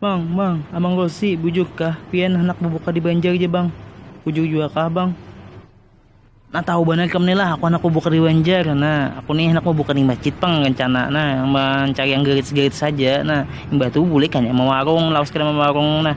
Bang, bang, Abang Rosi, bujur kah pian handak babuka di Banjar ja bang? Bujur jua kah bang? Nah tahu banar kam ni lah, aku handak babuka di Banjar, nah aku ni handak babuka di masjid pang rencana, nah mancari yang gratis-gratis haja, nah imbah tu bulih kanya mawarung, lawas kada mawarung nah.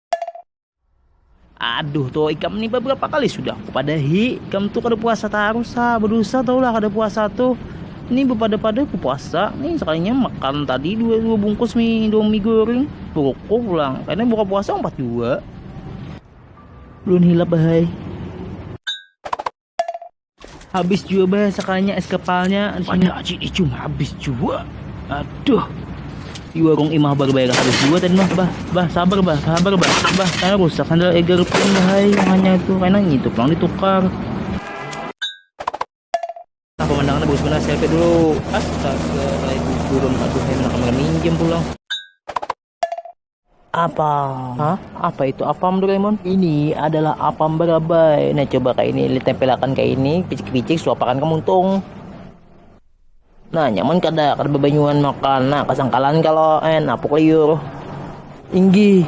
Aduh tuh ikam nih beberapa kali sudah kupadahi ikam tuh kada puasa tarus ha berdosa tau lah kada puasa tuh ini bepada-pada ku puasa nih sekalinya makan tadi dua dua bungkus mie indomie goreng rokok pulang karena buka puasa empat dua belum hilap bahai habis juga bah sekalinya es kepalnya banyak aci icung habis juga aduh di warung imah baru bayar habis juga tadi mah bah bah sabar bah sabar bah bah karena rusak sandal eger pun bahai hanya itu karena itu pulang ditukar nah pemandangannya bagus benar selfie dulu astaga baik turun aduh enak minjem pulang Apam. Hah? Apa itu apam Doraemon? Ini adalah apam barabai. Nah, coba kayak ini, tempelakan kayak ini, picik-picik, suapakan ke muntung. Nah, nyaman kada, kada bebanyuan makan. Nah, kesangkalan kalau eh napuk liur. Inggi.